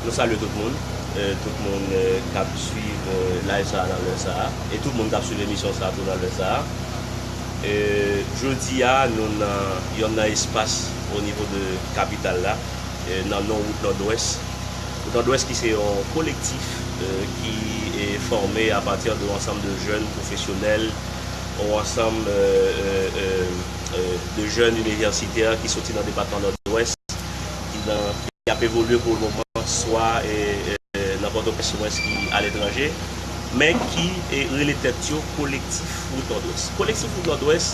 Nou salye tout moun, tout moun kap swiv live sa nan lè sa, e tout moun kap swiv emisyon sa tou nan lè sa. Jodia nou nan yonn nan espas o nivo de kapital la, nan non wout Nòdwès. Wout Nòdwès ki se yon kolektif ki fòme a pati de yon ansanm de jèn pwofesyonèl, yon ansanm de jèn inivèsitè ki soti nan depatman Nòdwès. ki nan. Ki ap evolye pou le moman swa nan Pòtoprens omwens ki aletranje, men ki rele tèt yo Kolektif Wout Nòdwès. Kolektif Wout Nòdwès,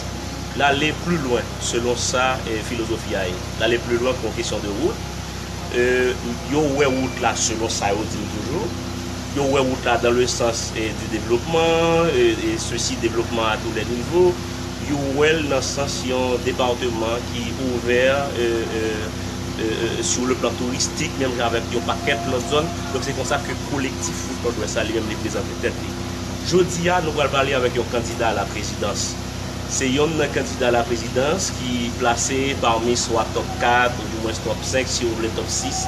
l ale pli lwen selon sa filozofi a ye. L ale pli lwen pou yon kesyon de wout. Yo wè wout la selon sa yo di m toujou. Yo wè wout la dan le sans di devlopman, e sesi devlopman a tou lè nivo. Yo wè l nan sans yon departeman ki ouvè sou le plan touristik menm jan avèk yon pakèt lòt zòn. Donk se konsa ke Kolektif Wout Nòdwès la li menm li prezante tèt li. Jodi a nou pral pale avèk yon kandida a la prezidans. Se yonn nan kandida a la prezidans ki plase pami swa top 4 ou di mwens top 5 si ou vle top 6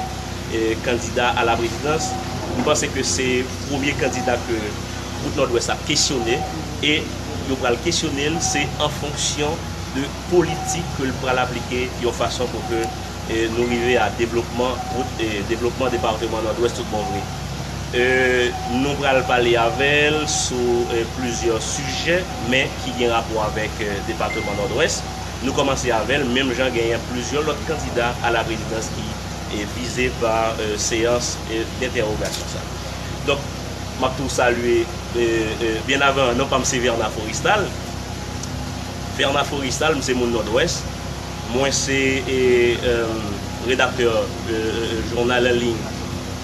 kandida a la prezidans. M panse ke se premye kandida ke. Wout Nòdwès ap kesyone e yo pral kesyone l se an fonksyon de politik ke l pral aplike yon fason pou ke nou rive a devlopman wout devlopman departeman Nòdwès tout bon vre. Nou pral pale avè l sou plizyè sijè men ki gen rapò avèk departeman Nòdwès. Nou kòmanse avè l menm jan genyen plizyè lòt kandida a la prezidans ki vize pa seyans dentèwogasyon sa. Donk. Map tou salye byen avan non pam se Verna Forestal Verna Forestal m se moun Nòdwès mwen se redaktè jounal anliy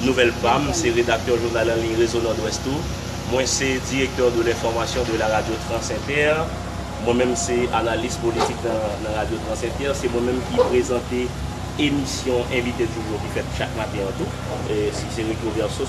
Nouvèl pa m se redaktè jounal anliy Rezo Nòdwès tou mwen se direktè de lenfòmasyon de la radyo Transinter mwen menm se analis politik nan radyo Transinter se mwen menm ki prezante emisyon envite djoudjou ki fèt chak maten an tou se Retroverso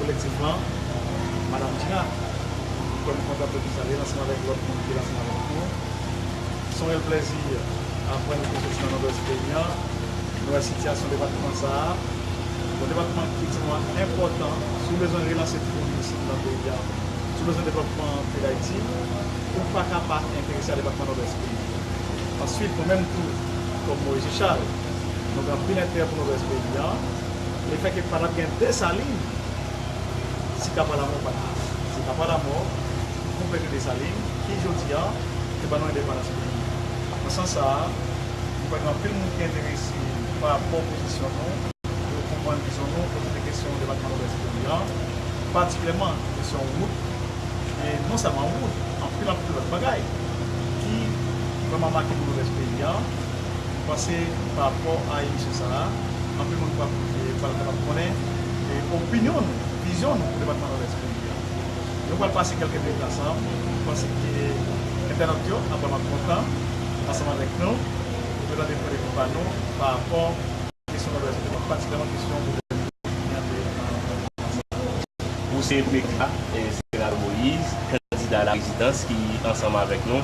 Kolektivman, Madam Dina, m kwè m kontan pou di sa li ansanm avèk lòt moun ki la ansanm avèk nou, se yon rèl plèzi aprann nou te soti nan Nòdwès peyi an, nou wè sitiyasyon depatman sa a, yon depatman ki tèlman enpòtan si w bezwen relanse tourism nan peyi a, si w bezwen devlòpman peyi Dayiti, ou pa ka pa enterese a depatman Nòdwès peyi an. Ansuit, nou menm tou, kòm Moise Charles, nou gen anpil enterè pou Nòdwès peyi an. Le fè ke pa tap gen Desalin si Kapa Lamò pat la. Se Kapa Lamò ki konplete Desalin ki jodi a te ban nou endepandans peyi a. Nan sans sa a, m kwè gen anpil moun ki enterese pa rapò pozisyon nou, yo konprann vizyon nou kote de kesyon depatman Nodwès peyi a, patikilyèman kesyon wout, e non sèlman wout, anpil anpil lòt bagay ki vrèman make pou Nodwès peyi a. Mwen panse pa rapò a emisyon sa a, anpil moun pral pral kapab konnen opinyon nou, vizyon nou pou depatman Nòdès peyi a. Nou pral pase kèlke minit ansanm, mwen panse ke entènòt yo ap vrèman kontan ansanm avèk nou pou yo tande pwendevou pa nou pa rapò Kesyon nan Brazil te konn patikaman kesyon gouvènman Etazini an te antann sou ansanm nan. Pou se Prekla Zeneral Moyiz, kandida laprezidans ki ansanm avèk nou,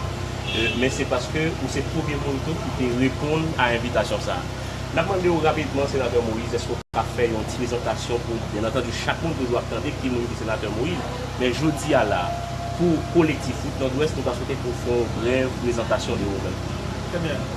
men se paske ou se premye moun tou ki te reponn a envitasyon sa a. N ap mande ou rapidman Senatè Moyiz èske ou ka fè yon ti prezantasyon pou, byen antandu, chak moun toujou ap tande ki moun ki Senatè Moyiz, men jodi a la pou Kolektif Wout Nòdwès nou ta swete pou w fè yon brèv prezantasyon de ou menm. Trè byen.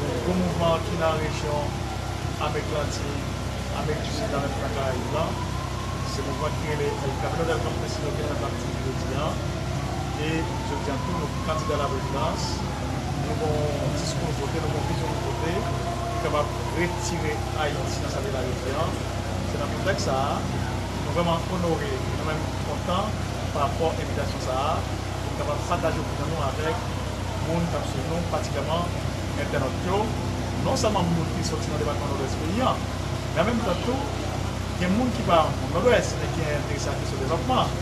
Donk gwo mouvman an ki nan rejyon Amerik Latin, Amerik di Sid la menm ki nan Karayib la, se mouvman ki rele El Camino del Campesino ki nan Latin jodi a. E jodi a tou nou gen kandida la prezidans, nou gen yon diskou nou pote, nou gen yon vizyon nou pote ki kapab retire Ayiti nan sa li ye la jodi a. Se nan kontèks sa a, nou vrèman onore e nou menm kontan pa rapò envitasyon sa a pou n kapab pataje opinyon nou avèk moun k ap suiv nou, patikilyèman entènot yo, non sèlman moun ki soti nan depatman Nòdwès peyi an, men an menm tan tou gen moun ki pa moun Nòdwès men ki enterese a kesyon devlòpman,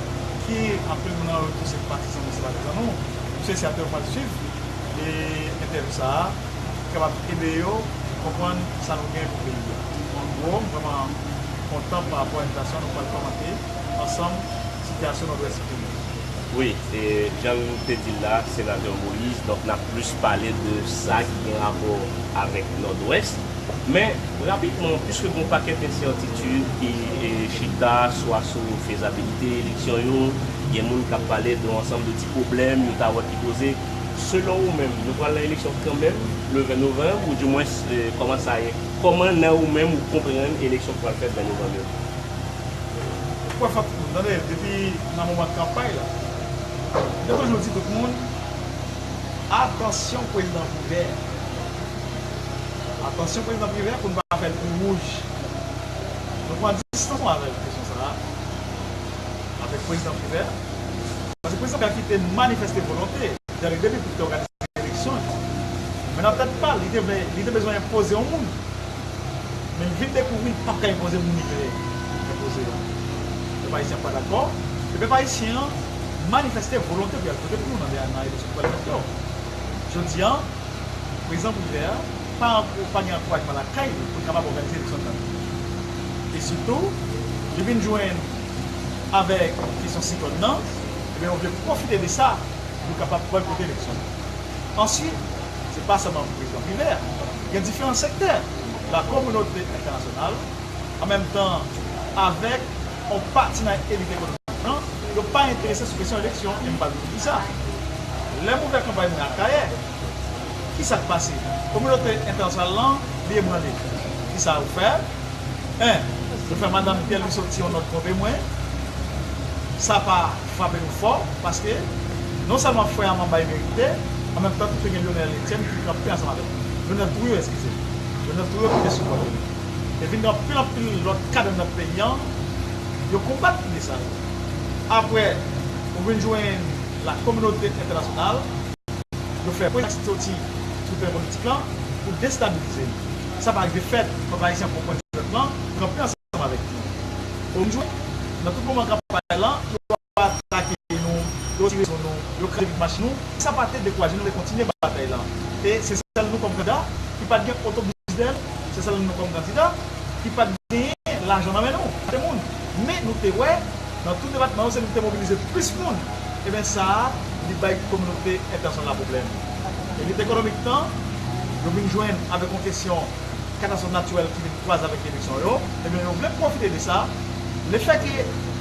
ki anpil moun nan yo tou se patizan nou, se patizan nou, m swete si apre yo pral suiv entèvyou sa a, li kapab ede yo konprann sa nou gen pou peyi a. An gwo, m vrèman kontan parapò envitasyon nou pral kòmante. Ansanm, sitiyasyon Nòdwès kriye. Wi, e jan nou te di l la, Senatè Moïse, donk n ap plis pale de sa ki gen rapò avèk Nòdwès. Men, rapidman, piske gen yon pakèt ensètitid ki chita swa sou fezabilite eleksyon yo, gen moun k ap pale de yon ansanm de ti pwoblèm yo ta wè ki poze, selon ou menm, nou pral nan eleksyon kanmenm le 20 novanm, oudimwens, kòman sa ye? Kòman nan ou menm ou konprann eleksyon ki pral fèt 20 novanm yo? Ou kwè fòk nou tande depi nan moman kanpay la yo toujou di tout moun atansyon prezidan privè atansyon prezidan privè pou nou pa fèl kou wouj nou pran distans nou avèl sou kesyon sa avèk prezidan privè paske prezidan privè kite manifèste volonte dèl depi pou te òganize eleksyon yo men nan tèt pal li te vle li te bezwen enpoze yon moun. Men m vin dekouvri m pap ka enpoze moun li vle enpoze a. Pèp Ayisyen an pa dakò, e pèp Ayisyen an manifeste volonte pou y al vote pou nou nan eleksyon ki pral fèt yo. Jodi a, Prezidan Privert pa ankou pa gen ankourajman lakay li pou l kapab òganize eleksyon sa yo. E sitou, li vin jwenn avèk kesyon siklòn nan, e byen yo vle pwofite de sa pou yo kapab bòykote eleksyon yo. Ansuit. Se pa sèlman pou Prezidan Pile a. Gen diferan sektè, la kominote entènasyonal, an menm tan avèk on pati nan elit ekonomik lan, yo pa enterese sou kesyon eleksyon e m pral di nou poukisa. Lè m ouvè kanpay mwen Akayè, ki sa k pase? Kominote entènasyonal lan li ebranle. Ki sa yo fè? 1, Yo fè Madam Pierre Louis soti on nòt konve mwen. Sa pa. frape nou fò paske non sèlman frè Aman bay verite an menm tan tou te gen Lyonel Etienne ki kanpe ansanm avèk li Lyonel Trouillot eskize m Lyonel Trouillot ki te sou kòd li e vin gen anpil anpil lòt kad anndan peyi an yo konbat ide sa yo aprè ou vin jwenn la kominote entènasyonal yo fè pwen ak soti sou teren politik lan pou destabilize l sa pa rive fèt pèp ayisyen pran pwen jwèt lan kanpe ansanm. ansanm avèk nou. Pou jwe, nan tout moman kanpay lan, yo atake nou, yo tire sou nou, yo kraze vit machin nou, men sa pa te dekouraje nou te kontinye batay lan. E se sèl nou kòm kandida ki pat gen otobis bèl, se sèl nou kòm kandida ki pat genyen lajan nan men nou. Gen moun, men nou te wè nan tout depatman yo se nou ki te mobilize plis moun. Eben sa a li bay kominote entènasyonal la pwoblèm. Elit ekonomik nan, yo vin jwenn avèk yon kesyon. katastwòf natirèl ki vin kwaze avèk eleksyon yo, ebyen yo vle pwofite de sa, lefèke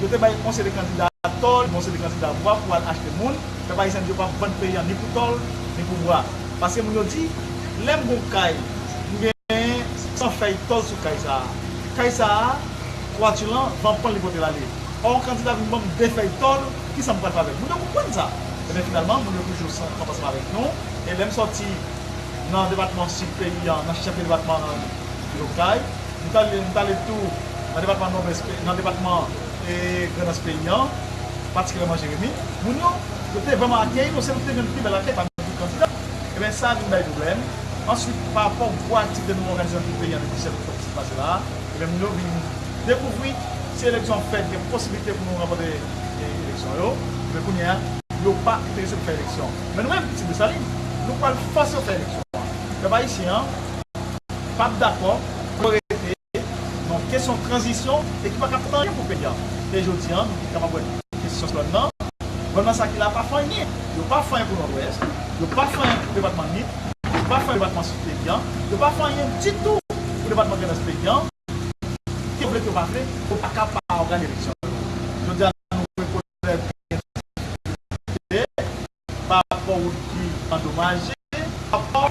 yo te bay yon seri kandida tò, yon seri kandida vwa pou al achte moun, pèp ayisyen di yo pap vann peyi an ni pou tòl, ni pou vwa. Paske moun yo di, lè m gon kay, m gen 100 fèy tòl sou kay sa a. Kay sa a, twati lan, van pran l li pote l ale. Ò yon kandida vin ban m 2 fèy tòl, kisa m pral fè avèk? Moun yo konprann sa. Ebyen finalman, moun yo toujou ansanm avèk nou, e lè m sòti. nan depatman sid peyi a, nan chèf de depatman an vil Okay. M t ale tou nan depatman Nòdwès, nan depatman Grandans peyi an, patikilyèman Jeremi. Moun yo, yo te vrèman akeyi nou, se nou ki te jwenn pi bèl akèy pami tout kandida. Eben sa vin bay pwoblèm. Answit, parapò gwo aktivite nou òganize nan tout peyi an depi 17 oktòb ki sot pase la a, eben moun yo vin dekouvri si eleksyon ap fèt, gen posiblite pou nou ranpòte eleksyon yo, eben kounye a, yo pa enterese pou fè eleksyon. Men nou menm pitit Desalin, nou pral fòse yo fè eleksyon an. Pèp ayisyen an p ap dakò pou yo rete nan kesyon tranzisyon e ki pa ka fèt anyen pou peyi an. E jodi an, nou kapab wè kesyon Siklòn nan, Siklòn nan sa ki la pa fè anyen. Yo pa fè anyen pou Nòdwès, yo pa fè anyen pou depatman Nip, yo pa fè anyen pou depatman Sid peyi an, yo pa fè anyen ditou pou depatman Grandans peyi an. Ke yo vle ke yo pa vle, yo pa ka pa ògane eleksyon yo. Jodi a, nou rekonèt. Fè kantite pa rapò wout ki andomaje, rapò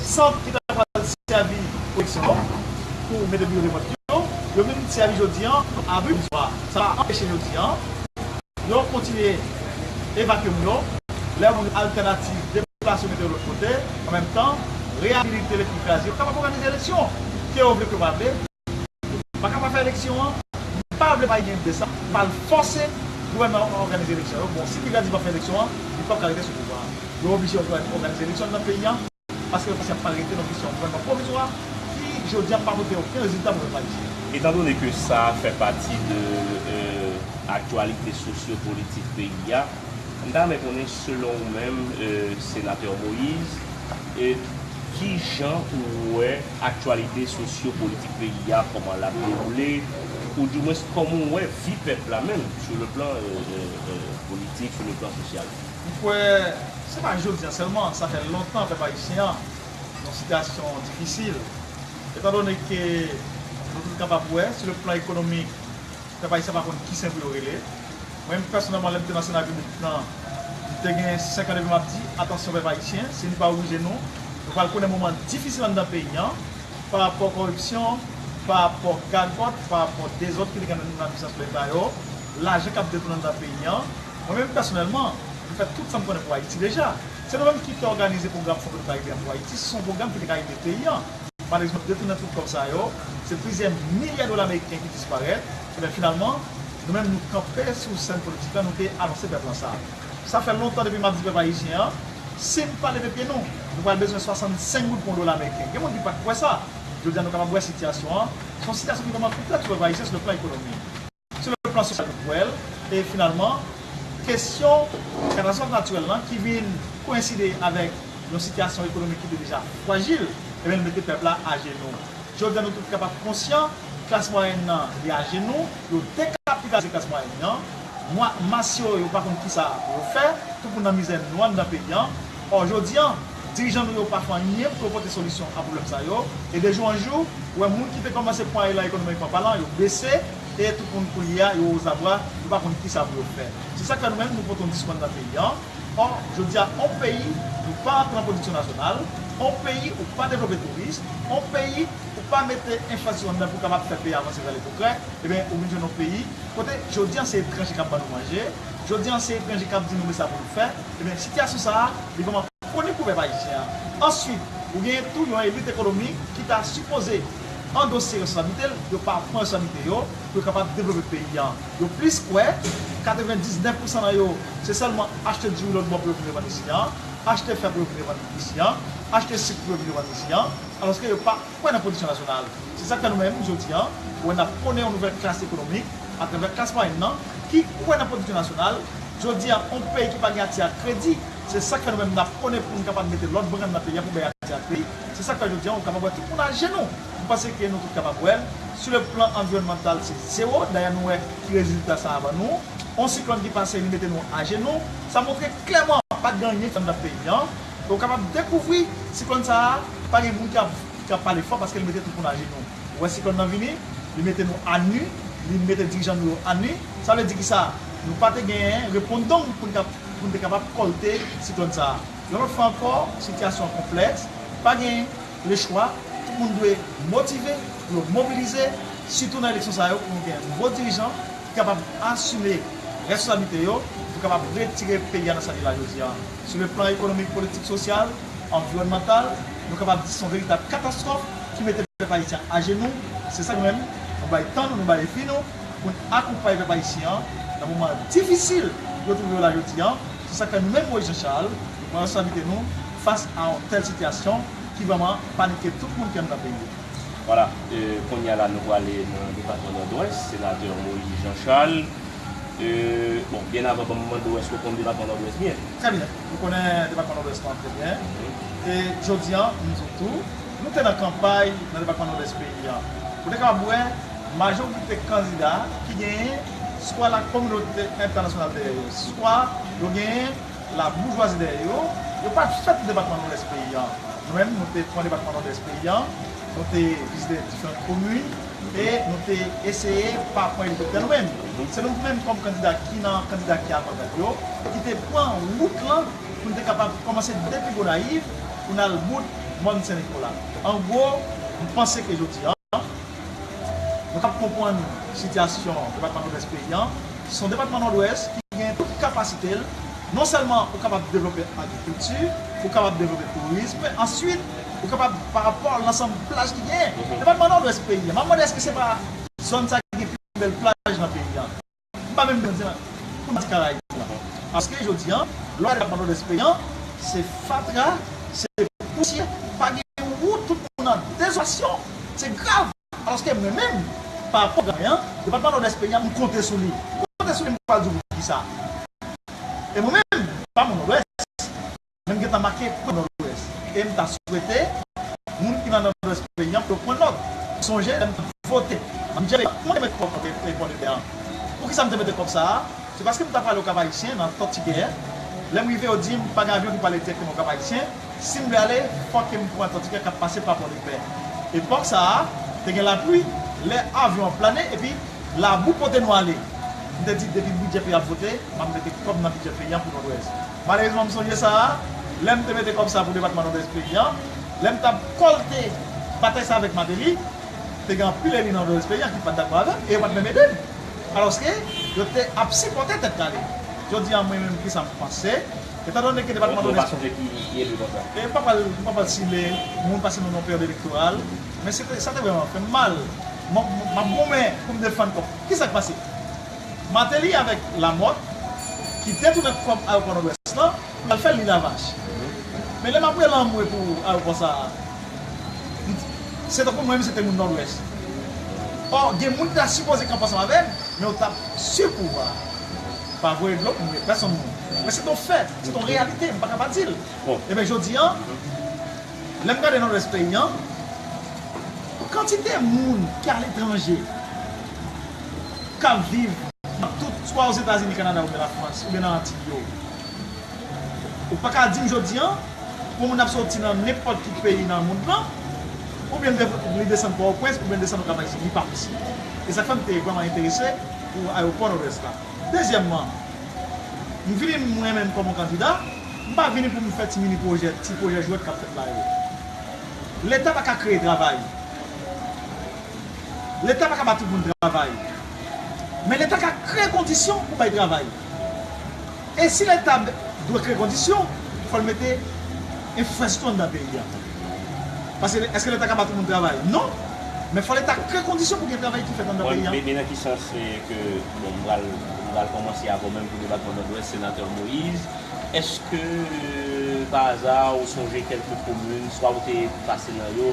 sant ki ta pral sèvi pwoteksyon yo pou mete biwo de vòt yo, yo vin sèvi jodi an kòm abri pwovizwa. Sa pa anpeche jodi an yo kontinye evakye moun yo, lè moun yo altènativ deplase yo mete yo lòt kote, an menm tan reyabilite lèt ki kraze yo kapab òganize eleksyon, ke yo vle ke yo pa vle. Nou paka pa fè eleksyon an, m pa vle pa gen de sa, m pa al fòse gouvènman an òganize eleksyon yo, bon si piga di pa fè eleksyon an, li pap ka rete sou pouvwa a. Yo oblije òganize eleksyon nan peyi an, paske yo pa ka rete nan kesyon gouvènman pwovizwa ki jodi a pa pote oken rezilta pou pèp ayisyen. Etan done ke sa fè pati de aktyalite sosyo politik peyi a, m ta renmen konnen selon ou menm Senatè Moïse, kijan ou wè Aktyalite sosyo politik peyi a kòman lap dewoule ou di mwens kòman ou wè vi pèp la menm sou le plan politik sou le plan sosyal. M kwè se pa jodi a sèlman sa fè lontan pèp ayisyen an nan sitiyasyon difisil etan done ke nou tout kapab wè sou le plan ekonomik pèp ayisyen pa konn ki sen pou yo rele. Mwen menm pèsonèlman lè m te nan Sena Piblik lan, m te gen 5 an depi m ap di, atansyon pèp ayisyen, si nou pa rije nou, nou pral konnen moman difisil anndan peyi an, pa rapò kòripsyon, pa rapò gagòt, pa rapò dezòd ki te gen nan pwisans lè sa yo, lajan k ap detoune anndan peyi an. Mwen menm pèsonèlman, m fè tout sa m konnen pou Ayiti deja. Se nou menm ki te òganize pwogram Fon Petro-Karibe an pou Ayiti, se son pwogram ki te ka ede peyi an. Malezman, detounen tout kòb sa yo, se plizyè milya dola meriken ki disparèt. Men finalman, nou menm nou kanpe sou sèn politik la, nou te anonse pèp lan sa. Sa fè lontan depi m ap di pèp ayisyen an, si n pa leve pye nou, nou pral bezwen 65 goud pou yon dola meriken. Gen moun ki pa t kwè sa. Jodi a nou kapab wè sitiyasyon an, se yon sitiyasyon ki vrèman konplèks pou pèp ayisyen sou le plan ekonomik, sou le plan sosyal nou wè l, e finalman, kesyon katastwòf natirèl lan ki vin koyenside avèk yon sitiyasyon ekonomik ki te deja frajil, e ben l mete pèp la ajenou. Jodi a nou tout kapab konsyan, klas mwayèn nan li ajenou, yo dekapitalize klas mwayèn nan, mwa mas yo yo pa konn kisa pou yo fè, tout moun nan mizè nwa anndan peyi an, ò jodi a dirijan nou yo pa fè anyen pou yo pote solisyon a pwoblèm sa yo, e de jou an jou ou wè moun ki te kòmanse pwan elan ekonomikman palan yo bese e tout moun koulye a yo ozabwa yo pa konn kisa pou yo fè. Se sak fè nou menm nou pote yon diskou anndan peyi an, Or, jodi a on peyi nou pa antre an pwodiksyon nasyonal, on peyi ou pa devlope touris, on peyi ou pa mete enfrastrikti anndan pou kapab fè peyi avanse vè le pwogrè, eben ou vin jwenn on peyi kote jodi an se etranje kap ban nou manje, jodi an se etranje kap di nou men sa pou nou fè, eben sitiyasyon sa a li vrèman konik pou pèp ayisyen an. Answit, ou genyen tou yon elit ekonomik ki ta sipoze andose responsablite l, yo pa pran responsablite yo pou yo kapab devlope peyi an. Yo plis kwè, 99 pousan nan yo, se sèlman achte diri lòtbò pou yo vin revann isi an, achte fè pou yo vin revann isi an, achte sik pou yo vin revann isi an, alòske yo pa kwè nan pwodiksyon nasyonal. Se sa k fè nou menm, jodi an, wè n ap pwone yon nouvèl klas ekonomik, atravè klas mwayèn nan, ki kwè nan pwodiksyon nasyonal. Jodi an, yon peyi ki pa gen ati ak kredi, se sa k fè nou menm n ap pwone pou n kapab mete lòt brann nan peyi an pou bay ati ak li. Se sa k fè jodi an ou kapab wè tout moun ajenou. M panse ke nou tout kapab wè l. Sou le plan anviwònmantal se zewo. Dayè nou wè ki rezilta sa ban nou. On siklòn ki pase li mete nou ajenou. Sa montre klèman pa gen anyen ki anndan peyi an. E ou kapab dekouvri siklòn sa a pa gen moun ki ka pale fò paske li mete tout moun ajenou. Ou wè siklòn nan vini, li mete nou anu, li mete dirijan nou yo anu. Sa vle di ki sa? Nou pa te gen repondong pou n te kapab kòlte siklòn sa a. Yon lòt fwa ankò, sitiyasyon an konplèks. Pa gen. Le chwa, tout moun dwe motive pou yo mobilize, sitou nan eleksyon sa yo pou nou gen bon dirijan ki kapab asime responsablite yo pou kapab retire peyi a nan sa li la jodi a. Sou le plan ekonomik, politik, sosyal, anviwònmantal, nou kapab di se yon veritab katastwòf ki mete pèp ayisyen an ajenou. Se sa nou menm, nou bay tan nou, nou bay vi nou pou n akonpaye pèp ayisyen an nan moman difisil yo twouve yo la jodi a. Se sa k fè nou menm Moyiz Janchal, nou pran responsablite nou, Fas a yon tèl sitiyasyon ki vrèman panike tout moun ki anndan peyi a. Vwala, kounye a la nou prale nan depatman Nòdwès, Senatè Moïse Jean Charles. Bon, byen avan banm mande w èske w konn depatman Nòdwès byen? Trè byen, m konnen depatman Nòdwès lan trè byen. E jodi an, m di w tou, nou te nan kanpay nan depatman Nòdwès peyi a. Ou te kapab wè majorite kandida ki genyen swa lakominote entènasyonal dèyè yo, swa yo genyen. La boujwazi dèyè yo, yo pa t fèt pou depatman Nòdès peyi an. Nou menm nou te pran depatman Nòdès peyi an, nou te vizite diferant komin e nou te eseye pa pran elikoptè nou menm. Se nou menm kòm kandida ki nan kandida ki avangat yo ki te pran wout lan pou n te kapab kòmanse depi Gonayiv pou n al bout Mòn Sen Nikola. An gwo, m panse ke jodi an. Nou kab konpwann sitiyasyon depatman Nodwès peyi an, son depatman Nòdwès ki gen tout kapasite l, non sèlman ou kapab devlope agrikilti, ou kapab devlope tourism, answit ou kapab pa rapò lansanm plaj ki genyen. Depatman Nòdwès peyi an, m ap mande èske se pa zòn sa ki gen pi bèl plaj nan peyi an? M pa menm gen di pou di karayib la paske jodi an lè w ale depatman nòdès peyi an se fatra se pousyè pa gen yon wout tout moun an dezolasyon se grav alòske mwen menm pa rapò granmè an depatman nòdès peyi an m konte sou li m konte sou li m pral di w poukisa e mwen menm m pa moun nòdwès. Men m gentan make pwen Nòdwès e m ta swete moun ki nan Nòdwès peyi an pou yo pran nòt. M sonje lè m t ap vote an bidjè peyi a, kouman m te mete kòb nan Pon de Pè an? Poukisa m te mete kòb sa a? Se paske m ta prale Okapayisyen, nan Tòtigè. Lè m rive yo di m pa gen avyon ki prale dirèkteman Okapayisyen, si m vle ale fò ke m pran Tòtigè k ap pase pa Pon de Pè. Epòk sa a, te gen lapli, lè avyon an plane epi labou pote nou ale. M te di depi bidjè peyi a ap vote, m ap mete kòb nan bidjè peyi an pou Nòdwès. Malerezman m sonje sa a, lè m te mete kòb sa pou depatman Nòdès peyi an, lè m t ap kòlte batay sa avèk Mateli, te gen anpil eli nan Nòdès peyi an ki pa t dakò avè m e yo pa t menm ede m. Alòske, yo te ap sipòte Tèt Kale. Jodi a mwen menm ki sa m panse, etandone ke depatman Nòdès. Yon ti moun pa sonje ki ki eli konsa. E m pa pral, m pa pral sile moun pase nou nan peryòd elektoral, men se te, sa te vrèman fè m mal. M ap goumen pou m defann kòb. Ki sa k pase? Martelly avèk Lamothe ki detounen kòb ayopò Nòdwès lan pou al fèl li lavach. Men lè map rele anmwe pou ayopò sa a se tankou mwen menm se te moun Nòdwès. Or gen moun ki ta sipoze kanpe ansanm avèm men yo tap su pouvwa a pa voye dlo pou mwen pèsonn moun. Men se ton fè, se ton reyalite m paka pa dil. Ebyen jodi an lèm gade Nòdwès peyi an kantite moun ki aletranje. k ap viv nan tout, swa Ozetazini, Kanada oubyen Lafrans oubyen nan Antiy yo. Ou pa ka di m jodi an, yon moun ap soti nan nenpòt ki peyi nan mond lan oubyen li desann Pòtoprens oubyen li desann Okap Ayisyen. Li pa posib. E sa k fè m te vrèman enterese pou ayewopò Nòdwès la. Dezyèmman, m vini m renmen m kòm yon kandida, m pa vini pou m fè ti mini pwojè, ti pwojè jwèt k ap fèt la yo. Leta pa ka kreye travay. Leta pa ka ba tout moun travay. Men leta ka kreye kondisyon pou bay travay. E si leta dwe kreye kondisyon, fò l mete enfrastrikti nan peyi a. Paske eske leta ka ba tout moun travay? Non! Men fò leta kreye kondisyon pou gen travay ki fèt anndan peyi a. Bebe nan ki sans se ke, bon m pral m pral kòmanse avè w menm pou depatman Nòdwès, Senatè Moïse, eske pa aza ou sonje kèlke komin swa ou te pase nan yo,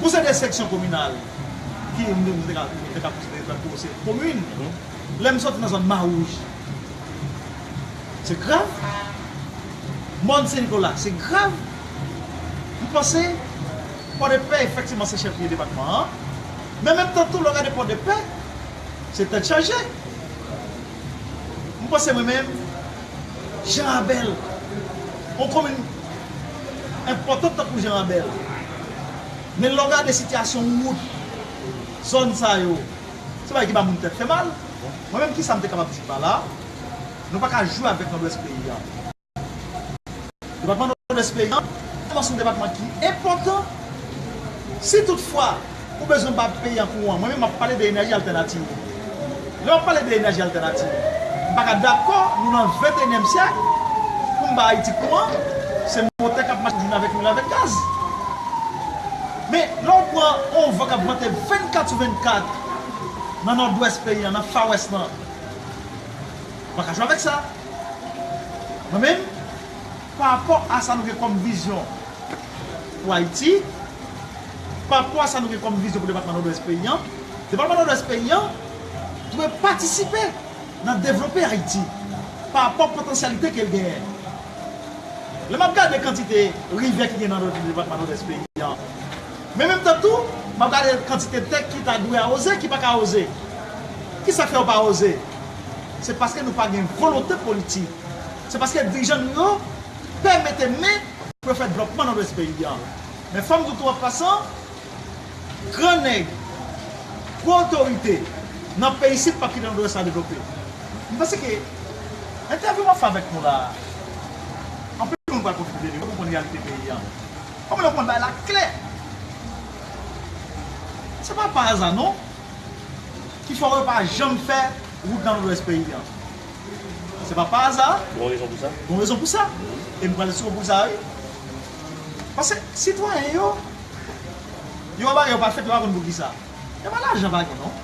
Pou se de seksyon kominal ki nou te ka konsidere tankou yo se komin, lè m soti nan zòn Mawouj, se grav, mòn Sen Nikola, se grav, m panse Pòdepè efektivman se chèf lye depatman an, men menm tan tou lè w gade Pòdepè, se tèt chaje. M panse mwen menm, Jan Abèl, yon komin. enpòtan tankou Jean Rabel. Men lè w gade sitiyasyon wout zòn sa yo, se bagay ki ba moun tèt fè mal. Mwen menm kisa m te kapab di pa la, nou pa ka jwe avèk Nòdwès peyi a. Depatman Nòdwès peyi a, se yon depatman ki enpòtan, si tout fwa, Ou bezwen ba peyi an kouran. Mwen menm map pale de enèji altènativ. Lè wap pale de enèji altènativ, m pa ka dakò nou nan ventenyèm syèk pou m ba Ayiti kouran, se motè kap mache jounen avèk nwit avèk gaz. Men, lè w pran yon van kap vante 24 sou 24 nan nòdwès peyi an, nan fawès lan, ou pa ka jwe avèk sa. Mwen menm, pa rapò a sa nou gen kòm vizyon, pou Ayiti. Pa rapò a sa nou gen kòm vizyon pou depatman Nòdwès peyi an, depatman Nòdwès peyi an dwe patisipe nan devlope Ayiti pa rapò potansyalite ke l genyen. Lè m ap gade kantite rivyè ki gen nan depatman Nòdwès peyi an, men menm tan tou m ap gade kantite tè ki ta dwe awoze ki pa ka awoze. Ki sa k fè yo pa awoze? Se paske nou pa gen volonte politik. Se paske dirijan nou yo. Pè mete men pou yo fè dvlòpman nòdwès peyi a. Men fòm di w tou an pasan, gran nèg, gwo otorite nan peyi isit pap kite nòdwès la devlope. M panse ke entèvyou m ap fè avèk nou la a, anpil moun pral pwofite de li, yo pral konprann reyalite peyi a. Kòm lè w konn bay la klè, se pa pa aza non ki fè yo pa janm fè wout nan nòdwès peyi a. Se pa pa aza. Gon rezon pou sa. Gon rezon pou sa. E m pral sou pou sa wi. Pase sitwayen yo, yo wè bagay yo pa fèt yo pa konn pou kisa. E pa lajan pa gen non.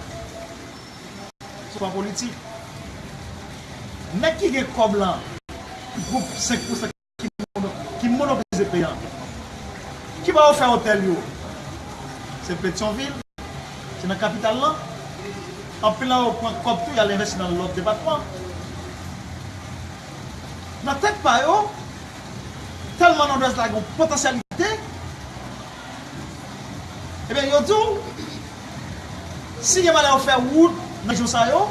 Se pa politik. Nèg ki gen kòb lan, gwoup 5 pou 5. ki monopolize peyi an. Ki bò yo fè otèl yo? Se Petyonvil? Se nan kapital lan? Anpil nan yo pran kòb tou y al envesti nan lòt depatman. Nan tèt pa yo, tèlman Nòdwès la gen yon potansyalite, ebyen yo di w, si gen malè yo fè wout nan rejyon sa yo,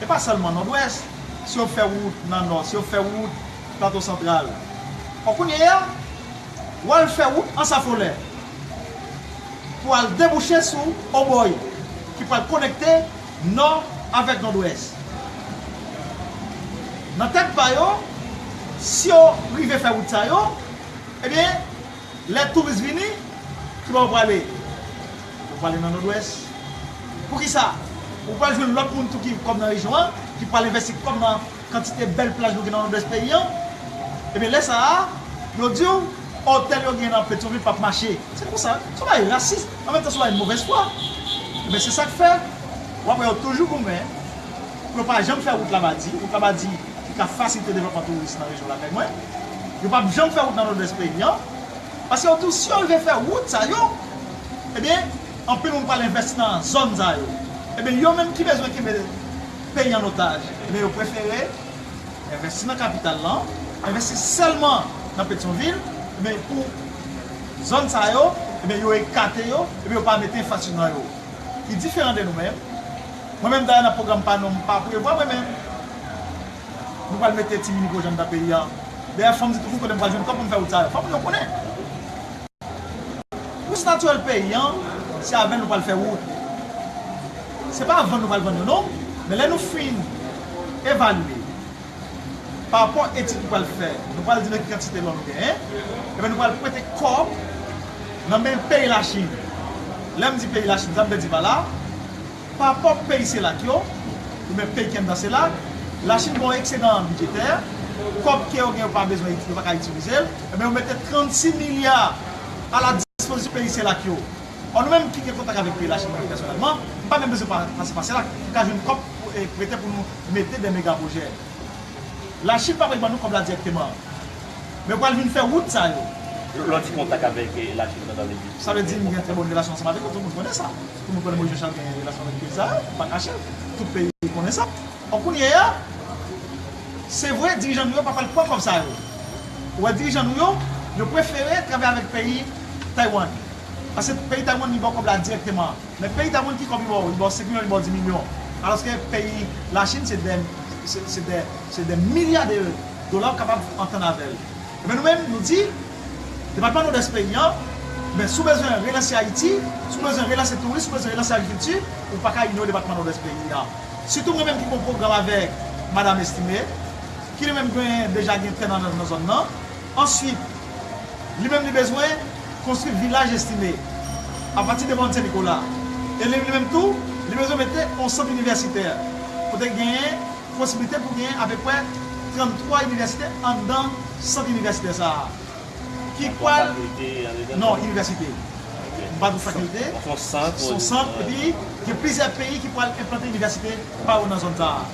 e pa sèlman Nòdwès, si yo fè wout nan Nò, si yo fè wout. Plato Santral. Bon kounye a, w al fè wout Ansafolè pou al debouche sou Obòy ki pral konekte Nò avèk Nòdwès. Nan tèt pa yo, si yo rive fè wout sa yo, ebyen, lè touris vini, ki bò yo prale? Yo prale nan Nòdwès. Poukisa? Ou pral jwenn lòt moun tou ki kòm nan rejyon an, ki pral envesti kòm nan. kantite bèl plaj nou gen nan Nòdwès peyi an, ebyen lè sa a, yo di w otèl yo gen nan Petyonvil pap mache. Se konsa. Se yon bagay rasis, an menm tan se yon bagay movèz fwa. Ebyen se sa k fè w ap wè yo toujou goumen pou yo pa janm fè wout Labadi, wout Labadi ki ka fasilite devlòpman touris nan rejyon lakay mwen. Yo pap janm fè wout nan Nòdwès peyi an, paske yo di w si yo rive fè wout sa yo, ebyen anpil moun pral envèsti nan zòn sa yo. Ebyen yo menm ki bezwen kenbe. peyi an otaj, men yo prefere envèsti nan kapital lan, envèsti sèlman nan Petyonvil, men pou zòn sa yo, ebyen yo ekate yo, ebyen yo pa mete enfrastrikti nan yo, ki diferan de nou menm, mwen menm dayè nan pwogram pa nou m pa prevwa mwen menm nou pral mete ti mini pwojè anndan peyi an, dayè fòm di toujou kote m pral jwenn kòb pou m fè wout sa yo, fòk moun yo konnen. Resous natirèl peyi an, se avèl nou pral fè wout. Se pa vann nou pral vann yo non, men lè nou fin evalye pa rapò etid nou pral fè, nou pral di nan ki kantite lò nou genyen, enben nou pral prete kò nan men peyi Lachin. Lè m di peyi Lachin, sa m vle di pa la? Pa pwòp peyi CELAC yo, oubyen peyi ki anndan CELAC, Lachin gen yon eksedan bidjetè, kòb ke yo gen yo pa bezwen, yo pa ka itilize l, enben yo mete 36 milya a la dispozisyon peyi CELAC yo. Ò nou menm ki gen kontak avèk peyi Lachin nou menm pèsonèlman, nou pa menm bezwen pase pa CELAC pou ka jwenn kòb pou prete pou nou mete dè mega pwojè. Lachin pa prèt ban nou kòb la dirèkteman. Men yo pral vin fè wout sa yo. Lè w di kontak avèk Lachin pandan 2018, ou gen kontak? Sa vle di m gen trè bon relasyon ansanm avèk yo, tout moun konnen sa. Pou nou pran Moïse Jean Charles gen relasyon avèk peyi sa a, nou pa kache l. Tout peyi konnen sa. Donk kounye a, se vre dirijan nou yo pa pral pran kòb sa yo. Ou wè dirijan nou yo, yo prefere travay avèk peyi Taiwan. Paske peyi Taiwan li ba w kòb la dirèkteman. Men peyi Taiwan ki kòb li ba w? Li ba w 5 milyon, li ba w 10 milyon. Alòske peyi Lachin se dè, se dè, se dè milya de dola ou kapab antann avè l. Enben nou menm nou di. Depatman Nodès peyi an, men si w bezwen relanse Ayiti, si w bezwen relanse touris, si w bezwen relanse agrikilti, ou pa ka inyore depatman Nodwès peyi an. Sitou mwen menm ki gen yon pwogram avèk Madam Estimé, ki li menm gen deja gen tè nan zòn nan. Answit, li menm li bezwen konstwi Vilaj Estimé apati de Mòn Sen Nikola. E li menm tou, li bezwen mete yon sant inivèsitè kote gen Posiblite pou genyen apeprè 33 inivèsite anndan sant inivèsitè sa a ki pral. Yon fakilte anndedan? Non, inivèsite. Ok. M pa di w fakilte. Donk son sant. Son sant epi gen plizyè peyi ki pral enplante inivèsite pa yo nan zòn sa a.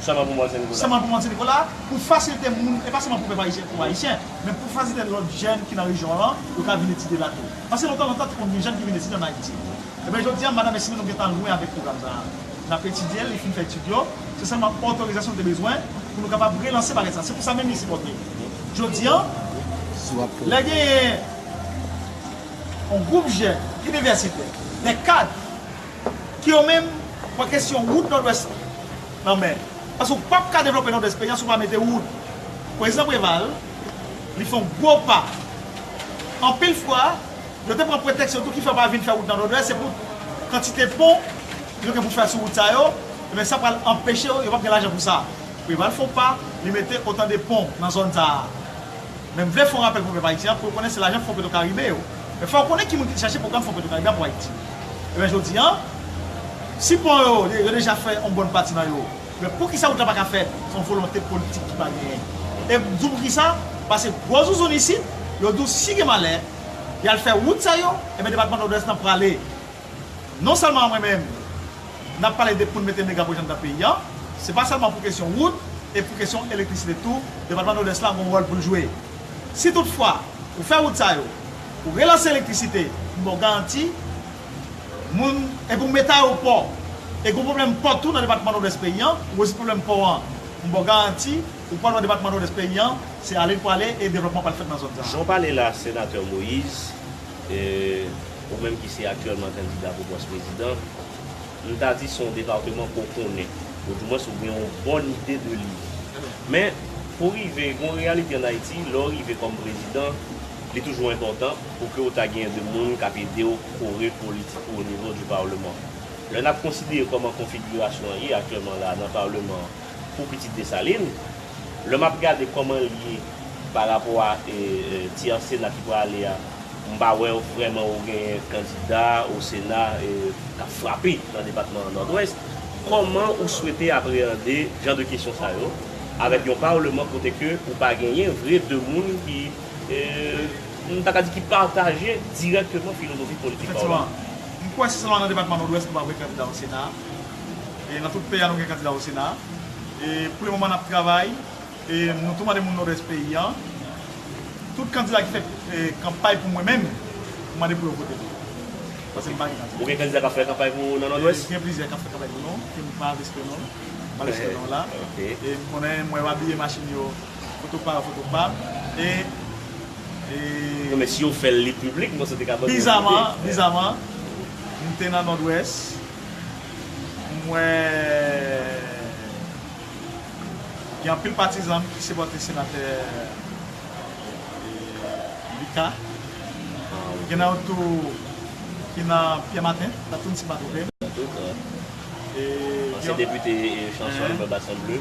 Sèlman pou Mòn Sen Nikola? Sèlman pou Mòn Sen Nikola, pou fasilte moun, e pa sèlman pou pèp ayisyen, pou Ayisyen, men pou fasilite lòt jèn ki nan rejyon lan yo ka vin etidye la tou. Pase lontan lontan te konn gen jèn ki vin etidye ann Ayiti. Enben jodi a, madanm e si nou nou gentan lwen avèk pwogram sa a. N ap etidye l, li fin fè etid yo, se sèlman otorizasyon l te bezwen pou nou kapab relanse pakèt sa. Se pou sa menm li sipòte jodi an lè genyen yon gwoup jèn inivèsitè, dè kad ki yo menm pran kesyon wout Nòdwès nan men. Paske ou pap ka devlope Nòdwès peyi a si ou pa mete wout. Prezidan Preval li fè yon gwo pa anpil fwa. Yo te pran pretèks yo tou ki fè yo pa vin fè wout nan Nòdwès se pou kantite pon yo gen pou fè sou wout sa yo, enben sa pral anpeche yo, yo pap gen lajan pou sa. Preval fon pa li mete otan de pon nan zòn sa a. Men m vle fon rapèl pou pèp ayisyen an pou yo konnen se lajan fon Petrokaribe yo. Men fò yo konnen ki moun ki te chache pwogram fon Petrokaribe a pou Ayiti. Enben jodi an, si pon yo, yo deja fè yon bòn pati nan yo, Men poukisa ou ta paka fè son volonte politik ki pa genyen. E m di w poukisa, pase gwo zouzoun isit, yo di w si gen malè, y al fè wout sa yo, enben depatman Nòdwès lan prale. Non sèlman mwen menm, n ap pale de pou n mete mega pwojè anndan peyi an, se pa sèlman pou kesyon wout e pou kesyon elektrisite tou, depatman Nòdwès lan gon wòl pou l jwe. Si tout fwa ou fè wout sa yo, ou relanse elektrisite, m ba w garanti, Moun e pou met ayopò e gon pwoblèm pò tou nan depatman nòdwès peyi an ou rezoud pwoblèm pò an m baw garanti ou pwal wè depatman nòdwès peyi an se ale l pwale e devlòpman pral fèt nan zòn sa a. Jan w pale la senatè Moïse ou menm ki se aktyèlman kandida pou pòs prezidan m ta di se yon depateman ke w konnen ou di mwens ou gen yon bòn ide de li men pou rive gon reyalite an Ayiti lè w rive kòm prezidan li toujou enpòtan pou ke ou ta genyen de moun kap ede ou kore politik ou o nivo di parleman. Lè nap konsidere kòman konfigirasyon an ye aktyèlman la nan parleman an pou pitit Dessalines, lè map gade kòman l ye pa rapò a ti an sena ki prale a, m pa wè ou vrèman ou genyen kandida o sena kap frape nan depatman an Nòdwès. Kòman ou swete apreyande jan de kesyon sa yo avèk yon parleman kote ke ou pa genyen vre de moun ki nou ta ka di ki pataje dirèkteman filozofi politik pa w la. Efektivman, m kwè se sèlman nan depatman Nòdwès nou pa gen kandida o Sena a. E nan tout peyi a nou gen kandida o Sena a. E pou le moman n ap travay e nou tou mande moun Nòdwès peyi a, tout kandida ki fè kanpay pou mwen menm, m mande pou yo vote m. Pase m pa gen kandida. Ou gen kandida k ap fè kanpay pou ou nan Nòdwès? Gen plizyè k ap fè kanpay pou nou, ke m pa riske non l. M pa riske non w la. E m konnen, m wè yo abiye machin yo. Foto pa yo foto pam e e. Men si yo fèl li piblik mwen se te ka bann yon ide. Bizaman, bizaman m te nan Nòdwès m wè gen anpil patizan m ki sipòte senatè Lika. Gen nan yo tou ki nan Pyè Maten, Tatoune si m pa twonpe m. Ansyen depite Chanson Lubin Bassin Bleu.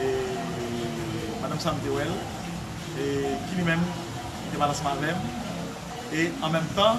E madanm sa m te wè l, e ki li menm, li te pale ansanm avè m, e anmenmtan,